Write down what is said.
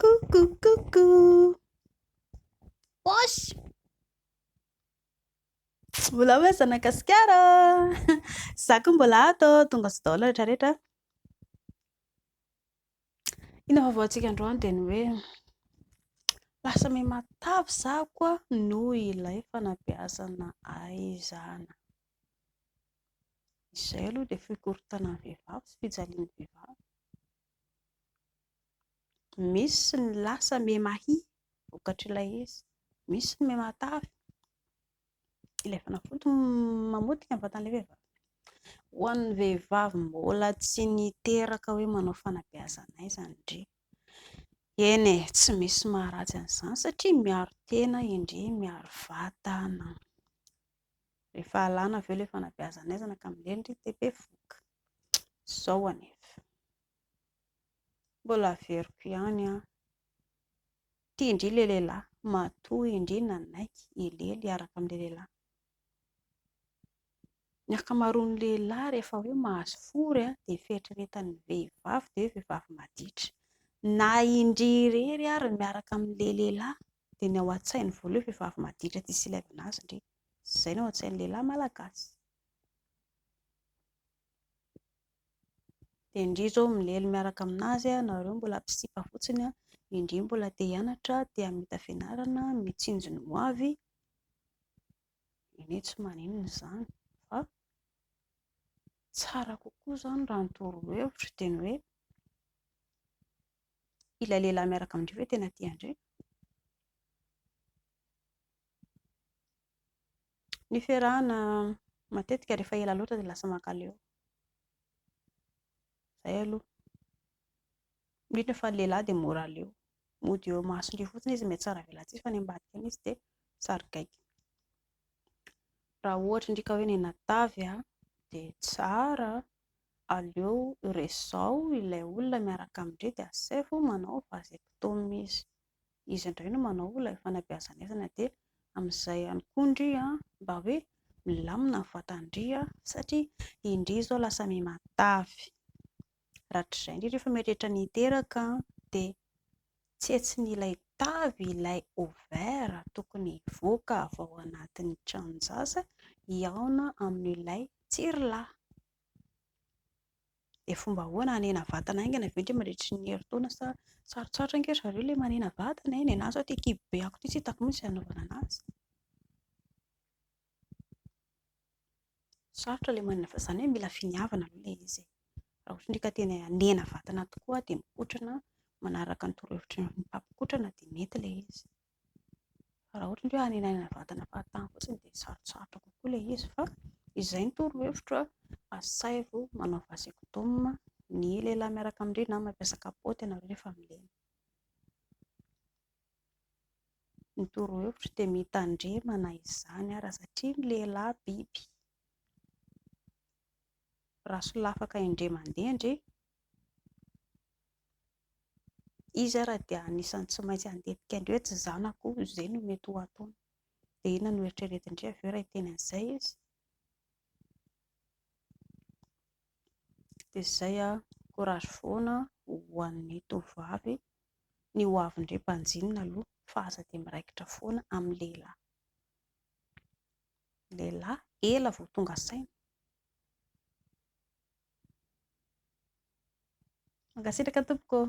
Coucou, coucou. Poche. Mbola hoe zanakasikara. Za koa mbola ato, tonga sy daholo rehetra rehetra. Ina vaovao antsika androany dia ny hoe lasa me matavy za koa noho ilay fanabeazana aizana. Izay aloha dia fikorontanan'ny vehivavy sy fijalian'ny vehivavy. Misy ny lasa mihemahia vokatr'ilay izy, misy ny mihamatavy. Ilay fanafody mamotika ny vatan'ilay vehivavy. Ho an'ny vehivavy mbola tsy niteraka hoe manao fanabeazana aiza ny ndry, eny e, tsy misy maharatsy an'izany satria miaro tena i ndry, miaro vatana. Rehefa alana avy eo ilay fanabeazana aizana ka mileny ry TP voky. Izao anefa. Mbola averiko ihany an. Tia indry ilay lehilahy, matoa indry nanaiky hilely hiaraka amin'ilay lehilahy. Ny ankamaroan'ny lehilahy rehefa hoe mahazo fory an, dia fieritreretan'ny vehivavy dia hoe vehivavy maditra. Na indry irery ary miaraka amin'ilay lehilahy Dia ny ao an-tsainy voaloha vehivavy maditra tsy silevina azy ndry. Izay ny ao an-tsain'ny lehilahy malagasy. Dia ndry izao milely miaraka aminazy ianareo mbola mpisipa fotsiny an, indry mbola te hianatra, te hamita fianarana, mitsinjo ny hoavy, anie tsy maninona izany fa tsara kokoa izany raha ny torohevitro dia ny hoe, ilay lehilahy miaraka amin-dreo ve tena tian-dreo? Ny fiarahana matetika rehefa ela loatra dia lasa mankaleo. Izay aloha. Indrindra fa ny lehilahy dia mora leo. Mody eo imasondreo fotsiny izy mety tsara velatsihy fa any ambadika any izy dia sarigaiky. Raha ohatra ndrika hoe nenatavy dia tsara Aleo resaho ilay olona miaraka amin-dry dia asaivo manao vasectomie izy. Izy indray no manao ilay fanabeazan'aizana dia amin'izay ihany koa ndry mba hoe milamina ny vatan-dry satria indry izao lasa miha matavy. Rahatrizay ndry rehefa mieritreritra ny hiteraka dia. Tsetson'ilay tavy ilay ovaire tokony hivoaka avy ao anatin'ny tranon-jaza hihaona amin'ilay tsirla. Dia fomba ahoana hanena vatana haingana ve indray mandritry ny herintaona sa sarotsarotra ange ry zareo ilay manena vatana e? Ny an'ahy izao ity kibo be akiko ity tsy hitako mihitsy izay hanaovana an'azy. Sarotra ilay manana vady, izany hoe mila finiavana aloha ilay izy e. Raha ohatra ndray ka tena hanena vatana tokoa dia mikotrana manaraka ny torohevitry ny mpamikotrana dia mety ilay izy. Fa raha ohatra indray hoe hanenanana vatana fahatany fotsiny dia sarotsarotra kokoa ilay izy fa izay no torohevitro a, asaivo manao vasectome ny lehilahy miaraka amin-dry na mampiasa kapaoty ianareo rehefa milena. Ny torohevitro dia mitandremana izany ara satria ny lehilahy biby. Raha solafaka indray mandeha ndry, izy ara dia anisan'ny tsy maintsy handetika indray hoe tsy zanako io, izay no mety ho ataony. Dia inona no eritreretin-dry avy eo raha hiteny an'izay izy? Dia izay, courage foana ho an'ny tovovavy. ny ho avin-dry mpanjinona aloha fa aza dia miraikitra foana amin'ny lehilahy. Ny lehilahy ela vao tonga saina. Mankasitraka tompoko ô.